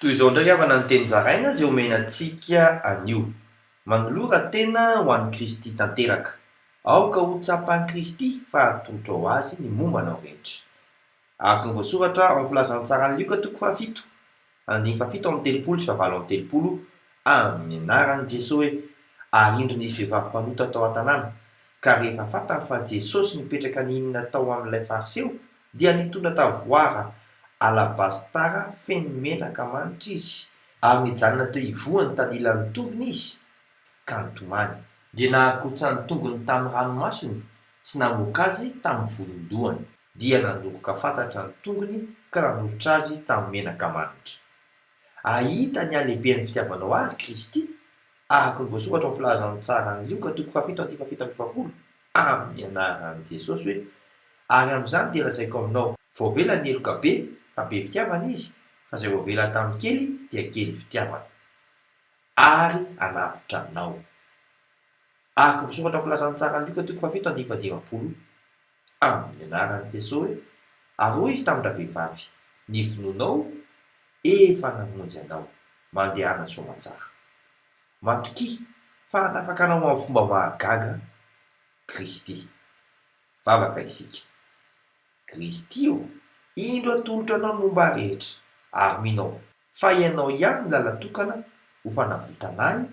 Toy izao indray havana ny teny zaraina izay omena antsika anio, Manolora tena ho an'i Kristy tanteraka. Aoka ho tsapan'i Kristy fa atolotro ho Azy ny momba anao rehetra. Araka ny voasoratra ao amin'ny Filazantsaran'i Lioka toko fahafito, andininy fahafito amby telopolo sy fahavalo amby telopolo, amin'ny anaran'i Jeso hoe, Ary indro nisy vehivavy mpanota tao an-tanàna, ka rehefa fantany fa Jesosy nipetraka nihinana tao amin'ilay Fariseo, Dia nitondra tavoara alabastara feno menaka manitra izy, ary nijanona teo ivohon'ny tandilan'ny tongony izy, ka nitomany. Dia nahakontsa ny tongony tamin'ny ranomasony, sy namoaka azy tamin'ny volon-dohany. Dia nandoroka fatatra ny tongony ka nanosotra azy tamin'ny menaka manitra. Hahita ny halehiben'ny fitiavanao azy, Kristy, araka ny voasoratra ao amin'ny Filazantsara an'i Lioka, toko fahafito andininy fahafito amby efapolo. amin'ny anaran'i Jesosy hoe, ary amin'izany dia lazaiko aminao, voavela ny heloka be, fa be fitiavana izy, fa izay voavela tamin'ny kely dia kely fitiavana. Ary hanavotra anao. Araka ny voasoratra voalazan'ny Ntsaran'i Lioka toko fahafito andininy fahadimampolo, amin'ny anaran'i Jesosy hoe, ary hoy izy tamin-dravehivavy, ny finoanao efa namonjy anao, mandehana soamantsara. Matokia fa hanafaka anao amin'ny fomba mahagaga Kristy. Vavaka isika, Kristy ô, indro atolotro anao ny momba rehetra, ary mino aho fa ianao ihany no làla tokana ho fanavotana ahy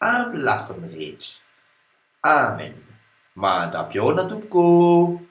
amin'ny lafiny rehetra. Amen! Mahandrampy ahoana tompoko ô!